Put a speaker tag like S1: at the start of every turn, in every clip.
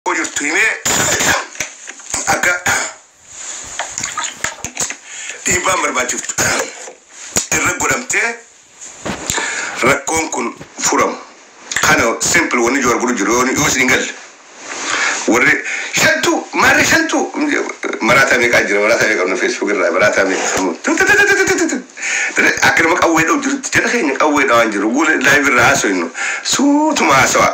S1: rakkoo jirtu himee akka dhiibbaan barbaachiftu irra godhamtee rakkoon kun furamu. Kana simple wanni joor godhu jiru yoo yoo isin hin galle. Warri shantuu maarree shantuu maraataa meeqaa jira maraataa meeqaa qabna feesbuuk irraa maraataa meeqaa akka nama qawwee dha'u jirutti jala keenya qawwee dha'aan jiru guula laayiv irraa haasoynu suutuma haasawaa.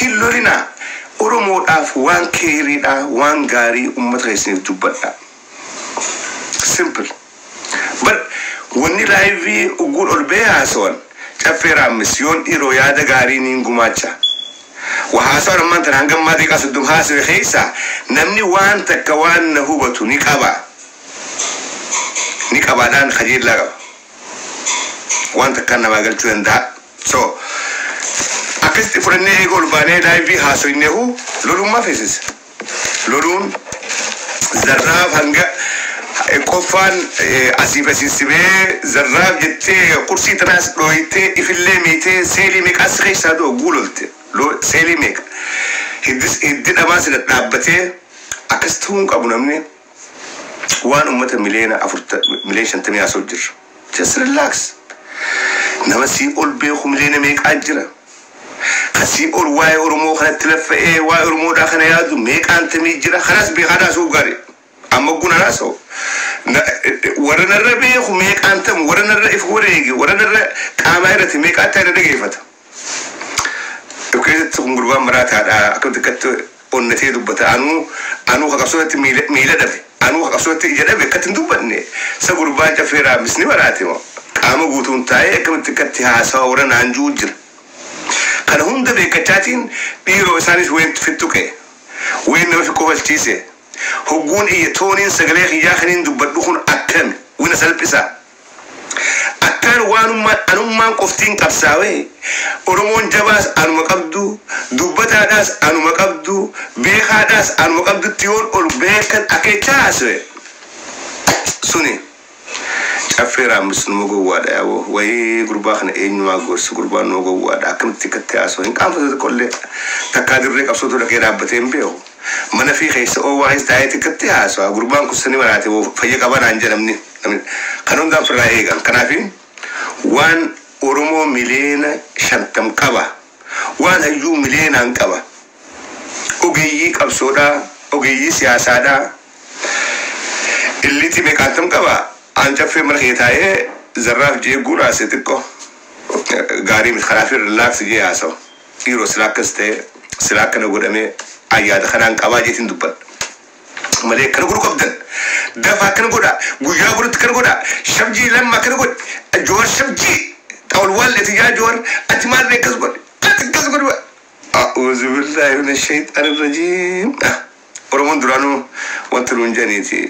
S1: Hin lolinaa oromoodhaaf waan keeyriidhaa waan gaarii ummata keessaniif dubbadhaa simple bar wanni live ugguun ol ba'ee haasawan caffee raammis yoon dhiiroo yaada gaarii niin gumaacha wa haasawaan ammaan tana hanga ammaa deeqaa soddom haasawe keessaa namni waan takka waan na hubatu ni qaba ni qabaadhaan kajeellaa qaba waan takkaan namaa galchuu danda'a. So. Akkasitti fudhannee eega ol baanee live haasoynehu loluun maaf heesise? Loluun zarraaf hanga qoffaan asiif asiin si ba'ee zarraaf jettee qursii tanaas dhooytee ifillee miitee seelii meeqaa si keessaa du'a guu lolte seelii meeqa hiddis hiddi dhabaa si dhadhaabbatee akkas ta'uu hin qabu namni waan ummata miliyoona afurta miliyoona shantamii haasa'u jirra. Just relax. Nama sii ol beeku miliyoona meeqaa jira. Ka sii ol waa'ee Oromoo kanatti laffa'ee waa'ee Oromoodhaa kana yaadu meeqaan tamii jira. Kanaas beekaadha haasa'uuf gaarii. Amma ogguun an haasa'u na- warra narra beeku meeqaan tamu warra narra if wareege warra narra qaamaa irratti meeqaa ta'e na dhageeffata. Dhukeesatti kun gurbaan maraataadha akkamitti akkatti onnatee dubbata anuu anuu ka qabsoorratti miila miila dhabe anuu ka qabsoorratti ija dhabe akkatti hin dubbanne sa gurbaan caffee raammis ni maraate moo qaama guutuun taa'ee akkamitti akkatti haasawa warra naan ju'u jira kana hunda beekkachaatiin dhiiroo isaanis weentu fittuqe ween nama fikkofalchiise hogguun iyya tooniin sagalee kiyyaa kaniin dubbadhu kun akkami wina salphisa Akkaan waanummaan anummaan qoftiin qabsaawe, Oromoon jabaas anuma qabdu, dubbataadhaas anuma qabdu, beekaadhaas anuma qabdutti yoon ol bahee akkan akeechaa haasawe, suni Caffee Raammis numa gowwaadha yaa boo, wayii gurbaa kana eenyumaa haa gorsu, gurbaan numa gowwaadha, akkamitti akkatti haasawa, hin qaanfatu tokkollee, takkaa dirree qabsootu dhaqee dhaabbatee hin beeku. Manafii keessa OYS taa'ee xiqqatti haasawa. Gurbaan kun sani maraate moo fayya qaba naan jedha namni. Kana hundaan firraa eegan. Kanaafi waan Oromoo miliyeena shantam qaba. Waan hayyuu miliyeenaan qaba. Ogeeyyii qabsoodhaa, ogeeyyii siyaasaadhaa. Illiitii meeqaantam qaba. An caffeen mana kiyya taa'ee zarraaf je'ee guuraase xiqqo gaarii miti. Kanaafi relax je'ee haasawa. Dhiiroo silaa akkas ta'ee silaa akkana godhamee an yaada kanaan qabaa jeetiin dubbadha malee akkana godhuu qabdan dafaa akkana godhaa guyyaa borutti akkana godhaa shabjii lamma akkana godhi joowar shabjii xawal waalleeti yaa joowar ati maal beekas godhi ati akkas godhi a'uuzu billaahi mina shayxaani rajiim Oromoon duraanuu wanti nuun jedhaniiti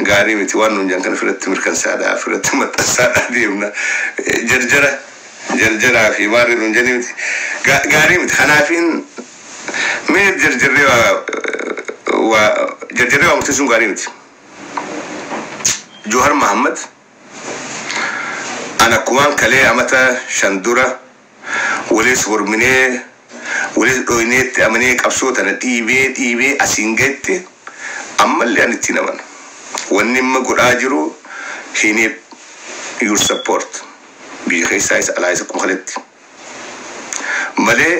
S1: gaarii miti waan nuun jedhan kana ofirratti mirkansaadhaa ofirratti maxxansaadhaa deemna jarjara jarjaraa fi maarree nuun jedhanii miti Ga- gaarii miti kanaafiin mee jarjarree waa waa jarjarree waa murteessuun gaarii miti Johar Mahammad an akkumaan kalee amata shan dura Waliis morminee, waliis dhooynee itti amanee qabsoo tana dhiibee dhiibee asiin gahetti ammallee ani itti hin amanu. Wanni imma godhaa jiru he need your support biyya keessaayis alaayis akkuma kaletti. Malee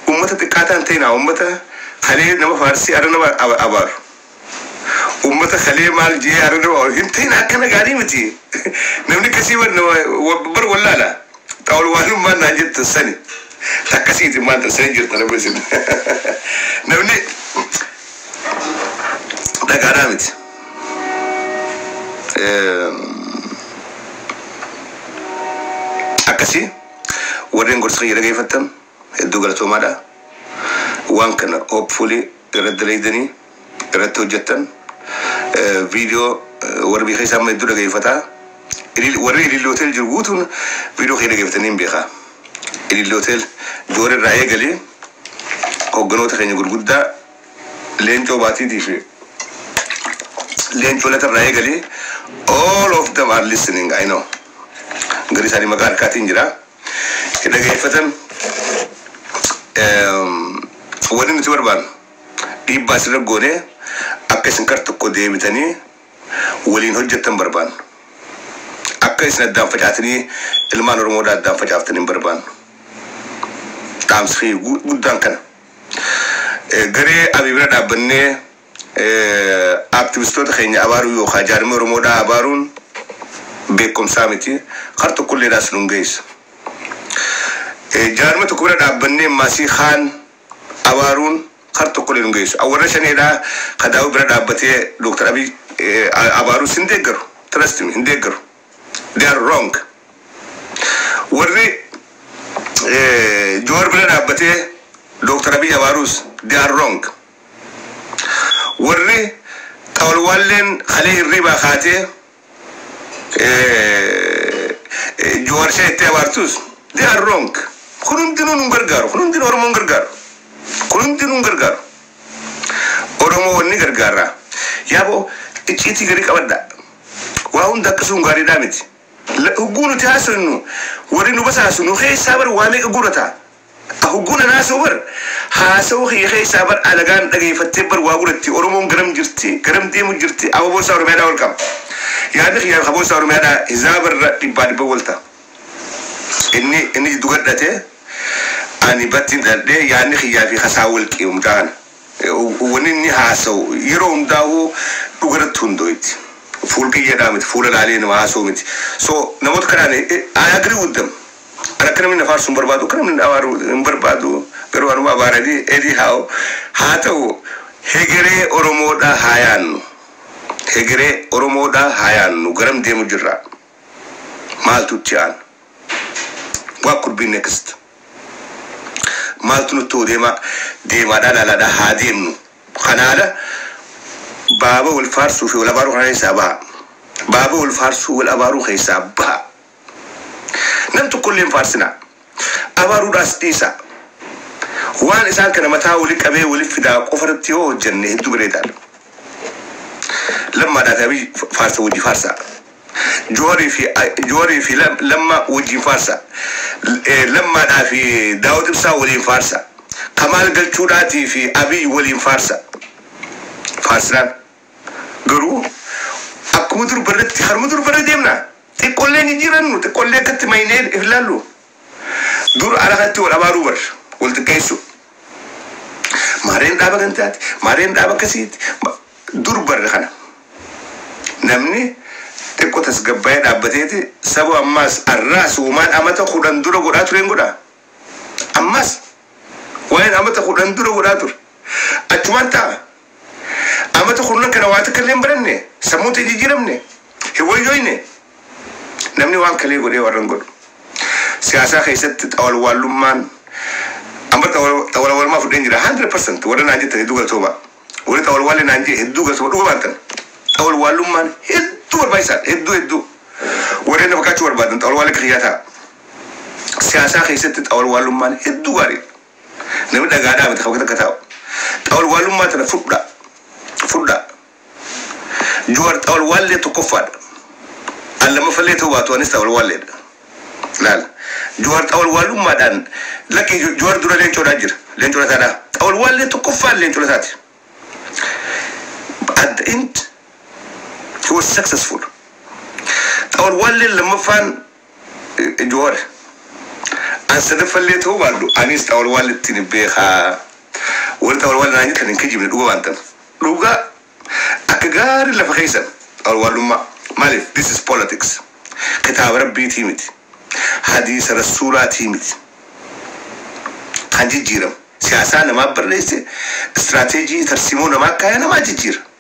S1: ummata xiqqaataa hin ta'inaa ummata kalee nama faarsee arra nama abaaru. Ummata kalee maal je'ee arraba ol hin tahin akkana gaarii miti. Namni akkasii bar nama bar wallaala. Ta ol waallummaan naan jettan sani. Ta akkasiiti maal ta sani jettan amma isin. Namni dhagaadhaa miti. Akkasii warreen gorsa kiyya dhageeffattan. hedduu galatoomaadha. Waan kana hopefully irratti dalaydanii irratti hojjettan video warri biyya keessaa amma hedduu dhageeffata. Ilil- Warri Ililli Hotel jiru guutuun video kee dhageeffatanii hin beekaa. Ililli Hotel Joor irraa eegalee hogganoota keenya gurguddaa Leencoo Baatiitii fi Leencoo Lata irraa eegalee all of them are listening I know. Gari isaanii maqaa harkaatiin jira. hin dhageeffatan. Wanni nuti barbaannu dhiibbaa isinirra goonee akka isin kar tokko deebitanii waliin hojjettan barbaannu. Akka isin addaan facaatanii ilmaan Oromoodhaa addaan facaaftan hin barbaannu. Dhaamsi guddaan kana. Garee Abiy bira dhaabbannee Activistoota keenya abaaruu yookaa jaarmiya Oromoodhaa abaaruun beekkomsaa miti. Kar tokkolleedhaas nun geessu. Jaarmiya tokko bira dhaabbannee ammaasii kaan abaaruun kar tokkollee nun geessu. An warra Shaneedhaa ka Daawud bira dhaabbatee Dr. Abiy abaarus hin deeggaru. Trust me, hin deeggaru. They are wrong. Warri Jawar bira dhaabbatee Dr. Abiy abaaruus they are wrong. Warri Xawalwaalleen kalee hirriibaa kaatee Jawaar Shah jettee abaartus they are wrong. Kun hundinuu nun gargaaru. Kun hundinuu Oromoo hin gargaaru. Kun hundinuu hin gargaaru. Oromoo wanni gargaarra. Yaaboo icciitii garii qabadha. Waa hunda akkasuun gaariidhaa miti. Hugguu nuti haasoynu warri nu basaasu nu keessaa bar waa meeqa guurata. Ka hogguu nan haasa'u bar haasa'uu kiyya keessaa bar alagaan dhageeffattee bar waa godhatti Oromoon garam jirti garam deemu jirti abo boossaa Oromiyaadhaa ol qaba yaadni kiyyaa ka boossaa Oromiyaadhaa hizaaba irra dhibbaa dhibba wal ta inni inni jiddu gadhate ani battiin dhaladhee yaadni kiyyaa fi kasaa wal qi umtaa kana wanni inni haasa'u yeroo hundaa'uu dhuga irratti hundooytti fuul qiyyeedhaa miti fuula laalee nama haasa'u miti so namoota kanaan I agree with them. Ani akka namni na faarsu hin barbaadu, akka namni na abaaru hin barbaadu, garuu anuma abaara anyhow haa ta'u hegeree Oromoodhaa haa yaannu, hegeree Oromoodhaa haa yaannu garam deemu jirra? Maaltu itti aana? What could be next? Maaltu nutti hoo deema? Deemaadhaa ilaalaadhaa haa deemnu. Kana ala baaba wal faarsuu fi wal abaaruu kana keessaa baha. Baaba wal faarsuu wal abaaruu keessaa baha. Nam tokko illee hin faarsinaa, abaaruudhaas dhiisaa. Waan isaan kana mataa wali qabee wali fidaa qofa irratti yoo hojjenne hedduu bareedaa dha. Lammaadhaa fi Abiy faarsa wajji faarsaa. Jowarii fi Jowarii fi Lamma wajjiin faarsaa. Lammaadhaa fi Daawud Ibsaa waliin faarsaa. Kamaal Galchuudhaatii fi Abiy waliin faarsaa. Faarsinaan. Garuu akkuma dur barretti karuma dur barre deemna. Xiqqollee hin jijjiirannu, xiqqollee akkatti maynee if laallu. Dur ala kanatti wal abaaruu bar, wal xiqqeessuu. Maareen dhaaba gantaati, maareen dhaaba akkasiiti. Dur barre kana. Namni xiqqo tasgabbaa'ee dhaabbateeti sabo ammaas arraas uumaan amata kudhan dura godhaa tureen godha. Ammaas waa'een amata kudhan dura godhaa ture. Achumaan ta'a. Amata kurnan kana waa takka illee hin baranne? Sammuun tee hin jijjiiramne? Hin wayyooyne? Namni waan kalee godhee warra hin godhu. Siyaasaa keessatti xawalwaallummaan An bar xawalawalmaa fudheen jira 100% warra naan jettan hedduu galatoomaa. Warri xawalwaallee naan jee hedduu galatoomaa dhugumaan tan. Xawalwaallummaan hedduu barbaachisaadha hedduu hedduu. Warreen na fakkaachuu barbaadan xawalwaallee akka kiyyaa ta'a. Siyaasaa keessatti xawalwaallummaan hedduu gaariidha. Namni dhagaa dhaabate kan akka taa'u. Xawalwaalummaa tana fudhaa. Fudhaa. Juwaar xawalwaallee tokkoffaadha. An lammaffallee ta'uu baatu anis xawalwaalleedha. Laal. Juwaar xawalwaalummaadhaan lakki Juwaar dura leencoodhaa jira. Leencoo lataadhaa. Xawalwaallee tokkoffaan leencoo lataati. At the end he was successful. Xawalwaalleen lammaffaan Johar. An sadaffallee ta'uu baadhu aniis xawalwaallittiin beeka. Warri xawalwaalla naan jettan hin kijibne dhuga waan tan. Dhuga akka gaari lafa keessan xawalwaallummaa. Maaliif this is politics. Kitaaba rabbiitii miti. Hadiisa rassuulaatii miti. Kan jijjiiramu. Siyaasaa namaa barreesse, strategy, tarsiimoo namaa kaaya namaa jijjiira.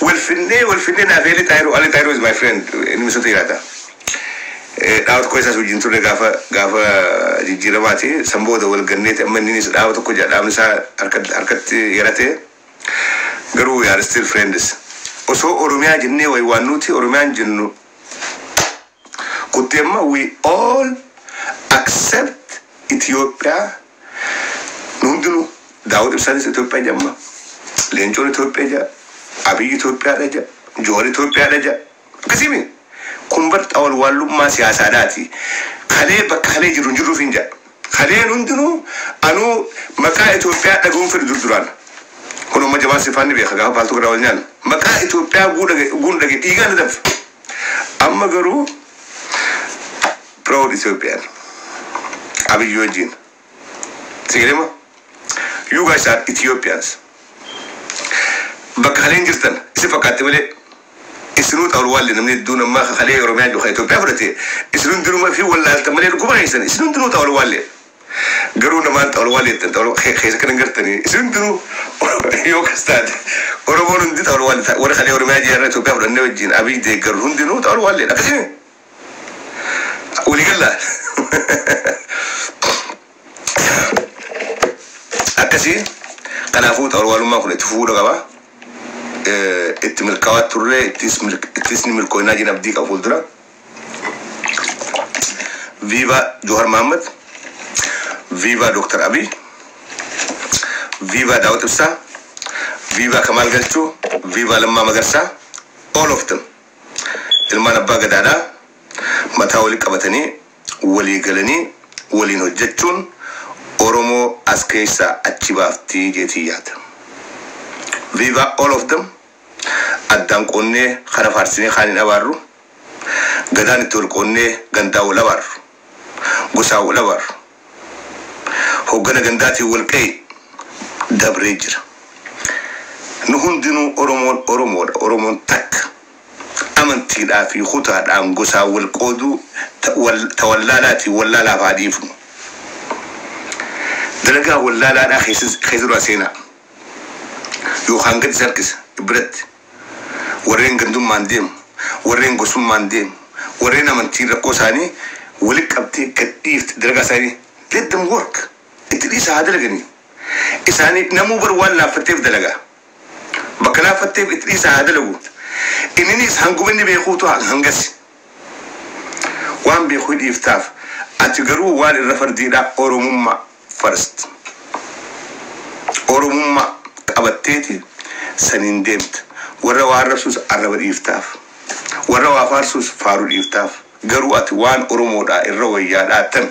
S1: Wal finnee wal finnee naaf Eeli Xaayiroo Ali Xaayiroo is my friend inni misatu yaada. Dhaaba tokko keessaas wajjin turre gaafa gaafa jijjiiramaati san booda wal ganneeti amma inninis dhaaba tokko jira dhaabni isaa harka harkatti yarate garuu we are still friends. Osoo Oromiyaa jennee waywaannuuti Oromiyaan jennu Kutti amma we all accept Ethiopia nu hundinuu Daawud Ibsaanis Ethiopia jedha amma Leencoon Ethiopia jedha Abiy Ethiopia dha jedha Johar Ethiopia dha jedha akkasii miti kun bar xawalwaallummaa siyaasaadhaati kalee bakka kalee jiru hin jirru ofiin jedha. Kanneen hundinuu anuu maqaa Itoophiyaa dhagahuu hin fedhu dur duraan. Kunoo amma Jamaal Sifaan ni beeka gaafa paaltook irraa wal nyaannu. Maqaa Itoophiyaa oguu dhaga- oguun dhagahe dhiigaan na danfa. Amma garuu proud Ethiopian Abiyyi wajjin. Si galee moo? You guys are Ethiopians. Bakka kaleen jirtan isin fakkaatti malee Isinuu xawalwaalle namni hedduun ammaa ka kalee Oromiyaa jiru ka Itoophiyaa fudhate isin hundinuu fi wallaaltan malee dhuguma keessan isin hundinuu xawalwaalle garuu namaan xawalwaalle jettan xawal ke- keessa kan hin gartanii isin hundinuu Oro- yoo kas taate Oromoon hundi xawalwaalle ta- warri kalee Oromiyaa jiran Itoophiyaa fudhannee wajjin Abiy deeggaru hundinuu xawalwaalle akkasii walii gallaa. Akkasii kanaafuu xawarwaalummaan kun itti fufuudha qaba. Itti milkaawaa turree ittis ni milkooynaa jeen abdii qaba fuuldura. Viva Johar Mohammed, Viva Dr. Abiy, Viva Daawud Ibsaa, Viva Kamaal Galchuu, Viva Lammaa Magarsaa, all of them. Ilmaan abbaa gadaadhaa mataa wali qabatanii walii galanii waliin hojjachuun oromoo as keessaa achi baaftii jeetiin yaada. Viva all of them addaan qoonnee kana faarsinee kaan hin abaarru. Gadaan itti wal qoonnee gandaan wal abaarru. Gosaan wal abaarru. Hoggana gandaatiin wal qa'i dabree jira. Nu hundinuu oromoon oromoodha oromoon takka. amantiidhaa fi kutaadhaan, gosaan wal qooduu ta wal ta wallaalaati wallaalaaf haa dhiifnu. Dalagaa wallaalaadhaa keessa keessa duraa seenaa. Yookaan gad isa harkisa biratti. Warreen gandummaan deemu, warreen gosummaan deemu, warreen amantiin rakkoo isaanii walitti qabdee gad dhiifte dalagaa isaanii let them work itti dhiisaa haa dalaganii. Isaanii namuu bar waan laaffatteef dalagaa. Bakka laaffatteef itti dhiisaa haa dalagu. Inniniis hanguma inni beekuutu hangasi. Waan beeku hi dhiiftaaf. Ati garuu waan irra fardiidhaa Oromummaa first. Oromummaa qabatteeti saniin deemta. Warra waa arrabsuus arraba dhiiftaaf. Warra waa faarsuus faaru dhiiftaaf. Garuu ati waan Oromoodhaa irra wayyaadhaa tan.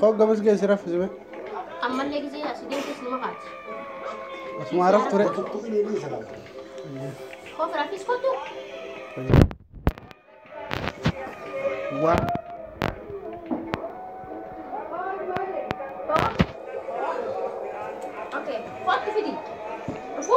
S2: Koo gamas ga'e si raffisu mee. Ammallee gisee
S3: asi deemtus numa kaati. Asuma
S2: raf ture. Koo
S3: firaafis kottu.
S2: Waa. Koo.
S3: Okay. Kottu fidi. Dhufu.